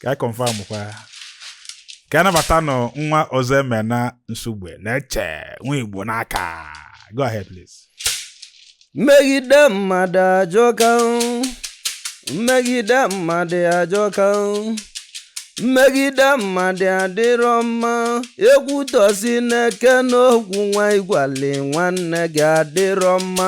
ka anyị confirm kwa ya. ka anyị nabatanụ nwa ọzọemena nsugbe na-eche nwa igbo n'aka go ahead please mmegide mmadụ ajọka o. mmegide mmadụ ajọka o. mmegide mmadụ adịrọ mma ekwutọsi nekene okwu nwa ị gwalị nwanne gị adịrọ mma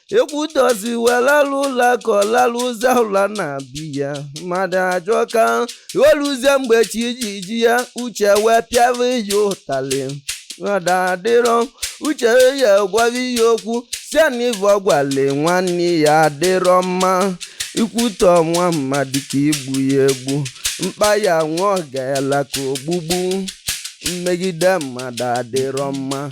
ekwutọsi wee lalụ ụla ka ọ lalụ ụzọ ụla na be ya mmadụ ajọka o luzie mgbe chi ji ji ya uche wee pịara ya ụtalị mmadụ adịrọ uche ya gwara ya okwu sị ya na ive ọ gwalị nwanne ya adịrọ mma ikwutọ nwa mmadụ ka igbu ya egbu mkpa ya nwa ọ gaela ka ogbugbu mmegide mmadụ adịrọ mma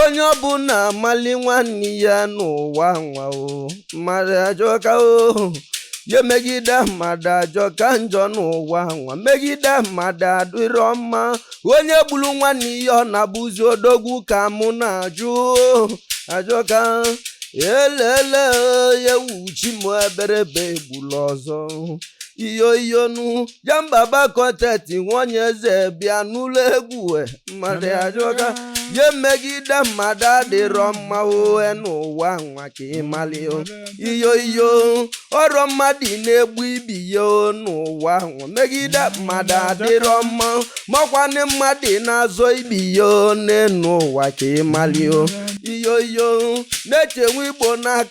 onye ọbụna amali nwanne ya n'ụwa nwa o mmadụ ajọka o ya mmegide mmadụ ajọka njọ n'ụwa nwa mmegide mmadụ adịrọ mma onye gburu nwanne ya ọ na-abụzi odogwu ka mụ na-ajụ ajọka elele ya ewu chi m ebere egbula ọzọ iyo iyonu ya mbaba kọteti nwanyị eze bịa n'ụlọ egwu e, mmadụ ajọka ya mmegide mmadụ adịrọ mma ohe n'ụwa nwa ka ịmali o. iyo iyo ọrọ mmadụ na-egbu ibe ya o n'ụwa nwa mmegide mmadụ adịrọ mma ma ọkwanụ mmadụ na-azọ ibe ya o n'enu ụwa ka ịmali o. iyo iyo na-echenwe igbo n'aka